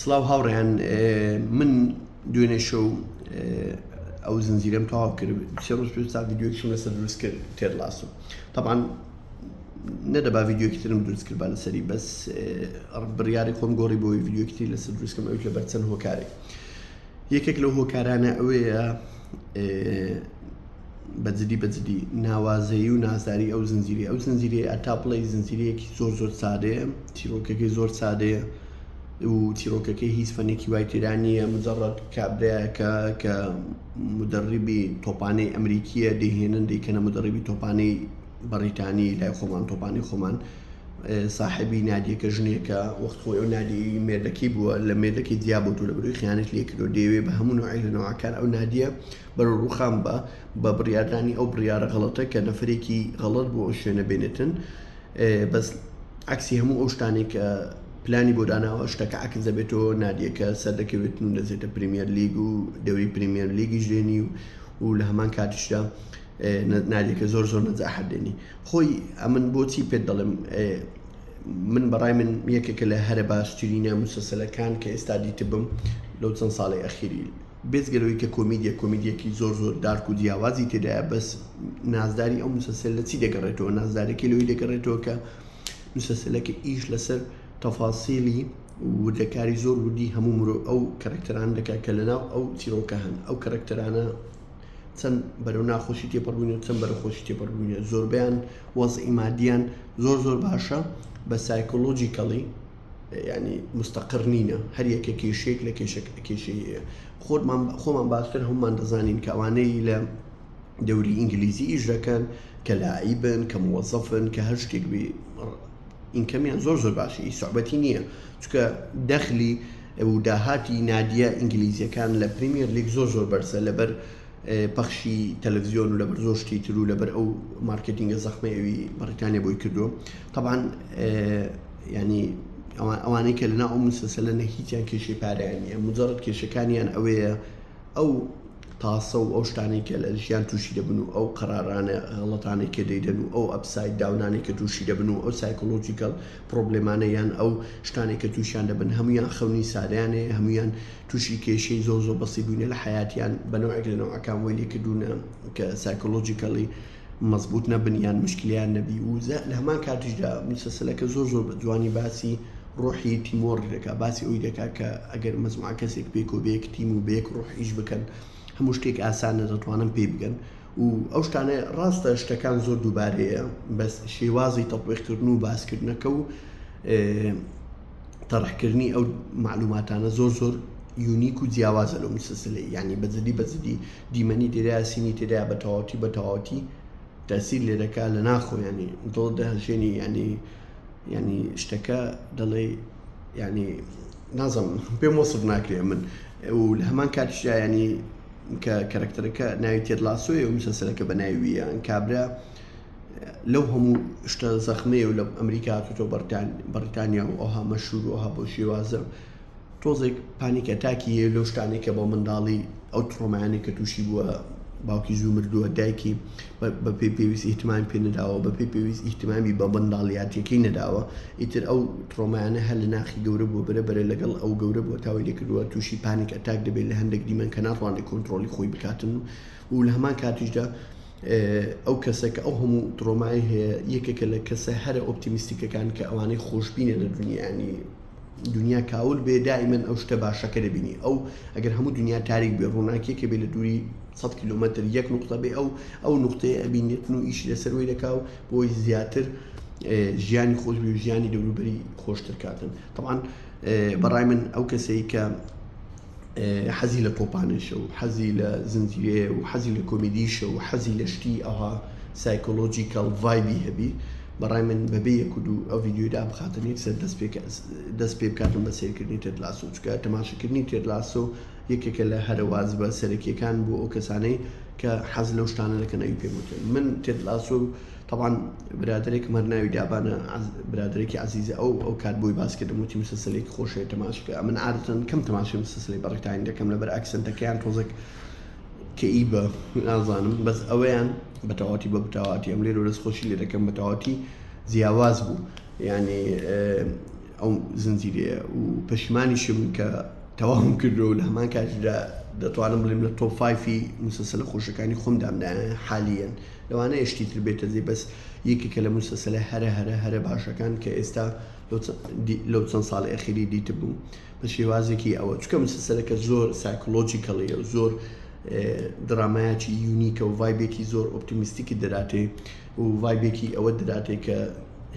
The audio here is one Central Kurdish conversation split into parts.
سڵاو هاوڕێیان من دوێنێ شەو ئەو زنجیرەم تەواو کرد سێ ڕۆژ پێش تا ڤیددیوکیشم لەسەر دروست کرد تێر لاسو طبعاان نەدەبا ڤیددیوکی ترم دروست کرد بە لەسەری بەس بڕیاری خۆم گۆڕی بۆی ڤیددیوکتری لەسەر دروستکەم ئەوی لەبەر چەند هۆکارێک یەکێک لەو هۆکارانە ئەوەیە بە جدی بە جدی ناوازەیی و نازداری ئەو زنجیرە ئەو زنجیرە ئەتا بڵی زنجیرەیەکی زۆر زۆر سادەیە چیرۆکەکەی زۆر سادەیە و چیرۆکەکەی هیچ فەنێکی وای تێرانیە مجرڕەت کابراەکە کە مدەڕیبی تۆپانەی ئەمریکیە دەهێنن دەیکەنە مدەڕیبی تۆپانەی بەڕیتانی لای خۆمان تۆپانی خۆمان ساحبی نادیەکە ژنێکە وەخت خۆی ئەو نادی مێردەکەی بووە لە مێردەکەی دیابوو لە بروی خیانەت لێکردو دەیەوێ بە هەموو عیلنەوەکان ئەو نادیە بەرەو ڕوخان بە بە بڕیاردانی ئەو بڕیاە غڵەتە کە نەفرێکی غەڵت بۆ ئەو شوێنە بێنێتن بەس عکسی هەموو ئەو شتانی کە پلانی بۆ داناوە شتەکە عکس دەبێتەوە نادیەکە سەر دەکەوێت و دەزێتە پریمیەر لیگ و دەوری پریمیەر لیگی ژێنی و و لە هەمان کاتیشدا نادیەکە زۆر زۆر نەزاحەت دێنی خۆی ئەمن بۆچی پێت دەڵێم من بەڕای من یەکێکە لە هەرە باشترینە مسەسەلەکان کە ئێستا دیتبم لەو چەند ساڵی ئەخیری بێجگە لەوەی کە کۆمیدیە کۆمیدیەکی زۆر زۆر دارک و جیاوازی تێدایە بەس نازداری ئەو مسەسەل لە چی دەگەڕێتەوە نازدارەکەی لەوەی دەگەڕێتەوە کە مسەسەلەکە ئیش لەسەر تەفاسیلی وردەکاری زۆر وردی هەموو مرۆ ئەو کەرەکتەران دەکات کە لەناو ئەو چیرۆکە هەن ئەو کەرەکتەرانە چەند بەرەو ناخۆشی تێپەڕبوونە چەند بەرە خۆشی تێپەڕبوونە زۆربیان وەز ئیمادیان زۆر زۆر باشە بە سایکۆلۆژیکەڵی یانی مستەقر نینە هەر یەکە کێشەیەک لە کێشە کێشەیە خۆمان خۆمان باشتر هەمومان دەزانین کە ئەوانەی لە دەوری ئینگلیزی ئیش دەکەن کە لایبن کە موەزەفن کە هەر شتێک بێ ئینکەمیان زۆر زۆر باشی سوعبەتی نییە چکە دەخلی و داهاتی نادیە ئینگلیزیەکان لە پریمیر لیک زۆر زۆر بەرزە لەبەر پەخشی تەلەفزیۆن و لەبەر زۆر شتی تر و لەبەر ئەو مارکتینگە زەخمە ئەوی بەڕیتانیا بۆی کردو طبعاان ینی ئەوانەی کە لەنا ئەو مسەسە لە نەهیچیان کێشی پارەیانە مجارڕت کێشەکانیان ئەوەیە ئەو تاسە و ئەو شتانی کە لە ژیان تووشی دەبن و ئەو قەرارانە غڵەتانی کە دەیدەن و ئەو ئەپسای داونانی کە تووشی دەبن و ئەو سایکۆلۆژیکەڵ پرۆبلێمانەیان ئەو شتانی کە تووشیان دەبن هەمویان خەونی ساریانەیە هەمویان توشی کێشەی زۆر زۆر بەسیت بوینە لە حەیاتیان بە نەوعێک لە نەوعەکان وەی لێکردونە کە سایکۆلۆژیکەڵی مەزبوط نەبن یان مشکلیان نەبی و لە هەمان کاتیشدا مسلسلەکە زۆر زۆر بە جوانی باسی ڕۆحی تیمۆڕی دەکا باسی ئەوی دەکا کە ئەگەر مەزموعە کەسێک پێکۆ بەیەک تیم و بەیەک ڕۆح ئیش بکەن هەموو شتێک ئاسانە دەتوانن پێی بگەن و ئەو شتانە ڕاستە شتەکان زۆر دووبارەیە بەس شێوازی تەپێخکردن و باسکردنەکە و تەڕحکردنی ئەو معلوماتانە زۆر زۆر یونیک و جیاوازە لەو مسلسلەی یعنی بەجددی بەجددی دیمەنی تێدا سینی تێدا بە تەواوەتی بە تەواوەتی تەسیر لێ دەکا لە ناخۆ ینی دڵ دەهژێنی ینی ینی شتەکە دەڵێ ینی نازم پێم وەسف ناکرێ من و لە هەمان کاتشدا ینی کە کەرەکتەرەکە ناوی تێدلاسۆی و مسلسلەکە بە ناویە ئەنکابرا لەو هەموو شتە زەخمەیە و لە ئەمریکا هاتوتۆ بەریتانیا و ئەوها مەشور و ئەها بۆ شێوازە تۆزێک پانیکە تاکی هەیە لەو شتانی کە بۆ منداڵی ئەو تڕۆمایانی کە تووشی بووە باوکی زوو مردووە دایکی بە پێی پێویست ئیهتمامی پێ نەداوە بە پێی پێویست ئیهتمامی بە منداڵیاتەکەی نەداوە ئیتر ئەو تڕۆمایانە هەر لە ناخی گەورە بۆ برە بەرە لەگەڵ ئەو گەورە بۆ تاوی لێکردووە تووشی پانیکە تاک دەبێت لە هەندێک دیمەن کە ناتوانێت کۆنتترۆلی خۆی بکاتن و لە هەمان کاتیشدا ئەو کەسە کە ئەو هەموو تڕۆمای هەیە یەکێکە لە کەسە هەرە ئۆپتیمیستیکەکان کە ئەوانەی خۆشببینە لە دنیانی دنیا کاول بێ دائیمەن ئەو شتە باشەکە دەبینی ئەو ئەگەر هەموو دنیا تاریک بێ ڕووناکیەکە بێ لە دووری 100 کیلومتر یەک نقطە بێ ئەو ئەو نقطەیە ئەبینێتن و ئیشی لەسەروی دەکا و بۆی زیاتر ژیانی خۆش بێ ژیانی دەوروبەری خۆشتر کاتن طبعاان بەڕای من ئەو کەسەی کە حەزی لە تۆپانێشە و حەزی لە زنجیرەیە و حەزی لە کۆمیدیشە و حەزی لە شتی ئەوها سایکۆلۆژیکەڵ ڤایبی هەبی بەڕای من بەبێ یەک و دوو ئەو ڤیدیۆی دابخاتن یەکسەر دەست پێ دەست پێ بکاتن بە سەیرکردنی تێد لاسۆ چکە تەماشەکردنی تێد لاسۆ یەکێکە لە هەرە وازبە سەرەکیەکان بۆ ئەو کەسانەی کە حەز لەو شتانە دەکەن ئەوی پێم وتن من تێد لاسۆ تەبعەن برادەرێکم هەر ناوی دابانە برادەرێکی عەزیزە ئەو ئەو کات بۆی باس کردم وتی مسلسلێکی خۆشەوێت تەماش بکە ئەمن عادەتەن کەم تەماشای مسلسلی بەڕیتانی دەکەم لەبەر ئەکسنتەکەیان تۆزێک کەئیبە نازانم بەس ئەوەیان بەتەواتی بە بتاواتی ئەم لێرە دەست خۆشی لێ دەکەم بەتەواتی جیاواز بوو یعنی ئەو زنجیرەیە و پەشیمانیشم کە تەواهم کردو لە هەمان کاتیدا دەتوانم بڵێم لە تۆفایفی مسلسلە خۆشەکانی خۆمدامدا حالیەن. لەوانەیە شتی تر بێتە جێ بەس یەکێکە لە موسەسەلە هەرە هەرە هەرە باشەکان کە ئێستا لەو چەند ساڵی ئەخیری دیت بووم بە شێوازێکی ئەوە چکە مسەسەلەکە زۆر سایکلۆجیکەڵەیە و زۆر درامایەکی یونیکە و ڤایبێکی زۆر ئۆپتیمیستیکی دەراتێ و ڤایبێکی ئەوە دەراتێ کە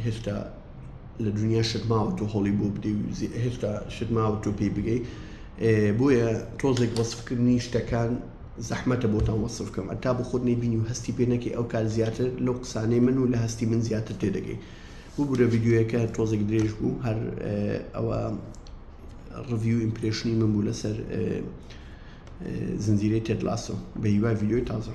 هێشتا لە دنیا شتماوە تۆ هەڵی بۆ بدەی و هێشتا شتماوە تۆ پێی بگەی بۆیە تۆزێک وەسفکردنی شتەکان زەحمەتە بۆتان وەسف کەم ئەتا بۆ خۆت نەیبینی و هەستی پێ نەکەی ئەو کات زیاتر لەو قسانەی من و لە هەستی من زیاتر تێدەگەی ببورە ڤیدیۆیەکە تۆزێک درێژ بوو هەر ئەوە ڕڤیو ئیمپرشنی من بوو لەسەر زنجیرەی تێدلاسۆ بە هیوای ڤیدیۆی تازە